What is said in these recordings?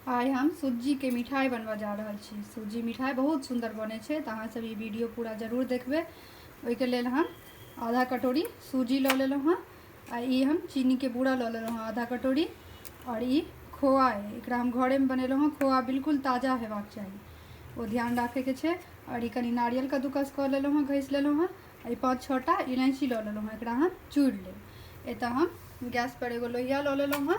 आइ हम सूजीके मिठाइ बनबऽ जा रहल छी सूजी मिठाइ बहुत सुन्दर बनै छै तऽ अहाँसभ ई वीडियो पूरा जरूर देखबै ओहिके लेल हम आधा कटोरी सूजी लऽ लेलहुँ हँ आ ई हम चीनीके बूरा लऽ लेलहुँ हँ आधा कटोरी आओर ई खोआ अइ एकरा हम घरेमे बनेलहुँ हँ खोआ बिल्कुल ताजा हेबाक चाही ओ ध्यान राखैके छै आओर ई कनि नारियल कद्दूकस कऽ लेलहुँ हँ घसि लेलहुँ हँ एहि पाँच छओ टा इलायची लऽ लेलहुँ हँ एकरा हम चूड़ि लेब एतऽ हम गैसपर एगो लोहिया लऽ लेलहुँ हँ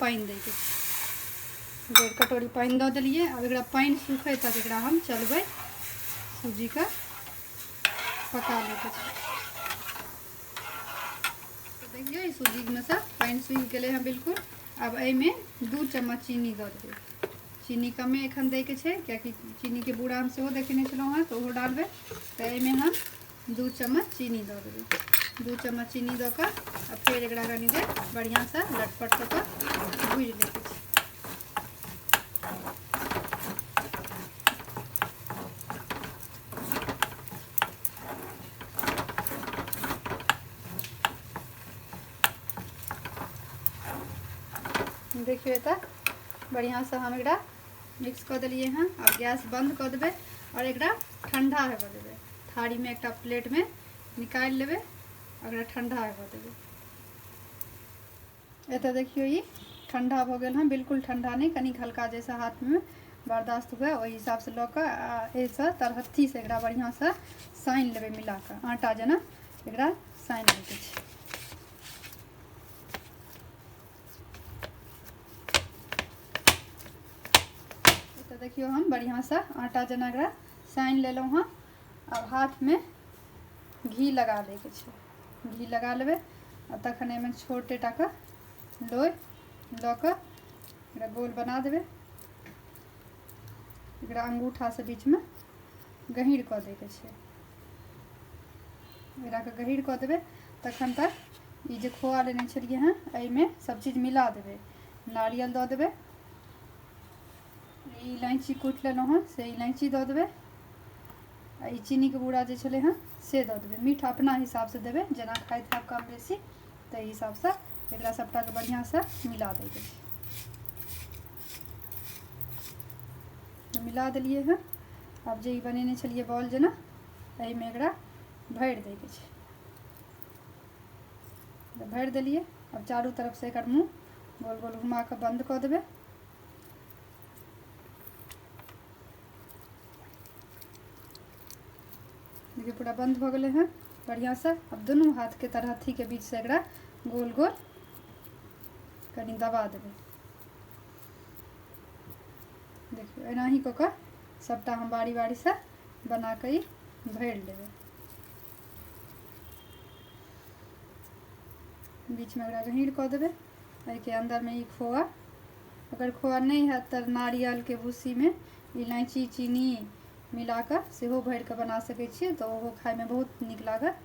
पानि दैके छै डेढ़ कटोरी पानि दऽ देलियै आब एकरा पानि सूखै तक एकरा हम चलबै सूजीके पका लैके छै देखियै सूजीमे से पानि सूखि गेलै हँ बिल्कुल आब एहिमे दू चम्मच चीनी दऽ देबै चीनी कमे एखन दैके छै कियाकि चीनीके बूढ़ा हम सेहो देखेने छलहुँ हँ तऽ ओहो डालबै तऽ एहिमे हम दू चम्मच चीनी दऽ देबै दू चम्मच चीनी दऽ कऽ आ फेर एकरा कनि देर बढ़िआँसँ लटपट कऽ कऽ भूजि लै छै देखियौ एतऽ बढ़िआँसँ हम एकरा मिक्स कऽ देलिए हँ आब गैस बन्द कऽ देबै आओर एकरा ठण्डा हेबऽ देबै थारीमे एकटा प्लेटमे निकालि लेबै एकरा ठण्डा हेबऽ देबै एतऽ देखियौ ई ठण्डा भऽ गेल हँ बिल्कुल ठण्डा नहि कनि हल्का जैसे हाथमे बर्दाश्त हुए ओहि हिसाबसँ लऽ कऽ एहिसँ तरहत्थीसँ एकरा बढ़िआँसँ सानि लेबै मिला कऽ आटा जेना एकरा सानि लैके छै तो देखियो हम बढ़िया से आटा जना एकरा सान लेलो हाँ अब हाथ में घी लगा दे के छै घी लगा लेबे आ तखन एहिमे छोटे टा के लोई लऽ कऽ एकरा गोल बना देबै एकरा अंगूठा से बीच में गहीर कऽ दैके छै एकराके गहीर कऽ देबै तखन तक ई जे खोआ लेने छलिए हँ एहिमे सभचीज मिला देबै नारियल दऽ देबै ई इलायची कुटि लेलहुँ हँ से इलायची दऽ देबै आ ई चीनीके बूरा जे छलै हँ से दऽ देबै मीठ अपना हिसाबसँ देबै जेना खाइत हैब कम बेसी ताहि हिसाबसँ एकरा सभटाके बढ़िआँसँ मिला दैके छै मिला देलियै हँ आब जे ई बनेने छलियै बॉल जेना एहिमे एकरा भरि दैके छै भरि देलियै आब चारू तरफसँ एकर मुँह गोल गोल घुमा कऽ बन्द कऽ देबै देखिए पूरा बंद हो गए हैं बढ़िया से अब दोनों हाथ के तरह थी के बीच से एक गोल गोल कहीं दबा देवे देखियौ एनाही कऽ कऽ सभटा हम बारी बारीसँ बना कऽ ई भरि लेबै बीचमे एकरा गहीर कऽ देबै एहिके अन्दरमे ई खोआ अगर खोआ नहि हैत तऽ नारियलके भूसीमे इलायची चीनी मिला कऽ सेहो भरि कऽ बना सकै छियै तऽ ओहो खाइमे बहुत नीक लागत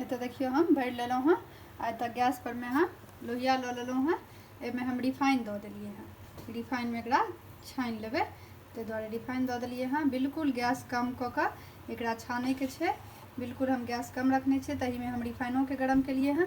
एतऽ देखियौ हम भरि लेलहुँ हँ आ एतऽ गैस परमे हम लोहिया लऽ लेलहुँ हँ एहिमे हम रिफाइन दऽ देलियै हँ रिफाइनमे एकरा छानि लेबै ताहि दुआरे रिफाइन दऽ देलियै हँ बिल्कुल गैस कम कऽ कऽ एकरा छानैके छै बिल्कुल हम गैस कम रखने छियै तहिमे हम रिफाइनोके गरम केलियै हँ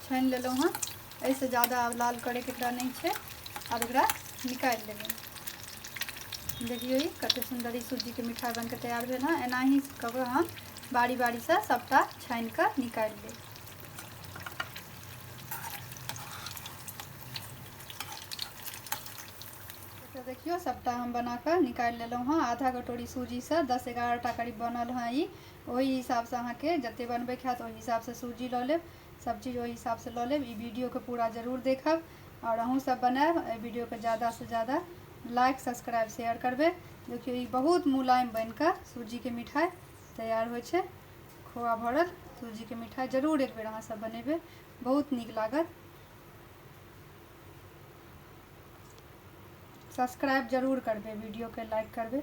छानि लेलहुँ हँ एहिसँ ज़्यादा आब लाल करैके एकरा नहि छै आब एकरा निकालि लेबै देखियौ ई कतेक सुन्दर ई सूजीके मिठाइ बनिके तैयार भेल हँ एनाही कऽ कऽ हम बारी बारीसँ सभटा छानि कऽ निकालि लेब तऽ देखियौ सभटा हम बना कऽ निकालि लेलहुँ हँ आधा कटोरी सूजीसँ दस एगारहटा करीब बनल हँ ई ओहि हिसाबसँ अहाँके जतेक बनबैके हैत ओहि हिसाबसँ सूजी लऽ लेब सभचीज ओहि हिसाबसँ लऽ लेब ई वीडियोके पूरा जरूर देखब आओर अहूँसभ बनायब एहि वीडियोके ज्यादासँ ज्यादा लाइक सब्सक्राइब शेयर करबै देखियौ ई बहुत मुलायम बनि कऽ सूजीके मिठाइ तैयार होइ छै खोआ भरल सूजीके मिठाइ जरूर एक बेर अहाँसभ बनेबै बहुत नीक लागत सब्सक्राइब जरूर करबै वीडियोके लाइक करबै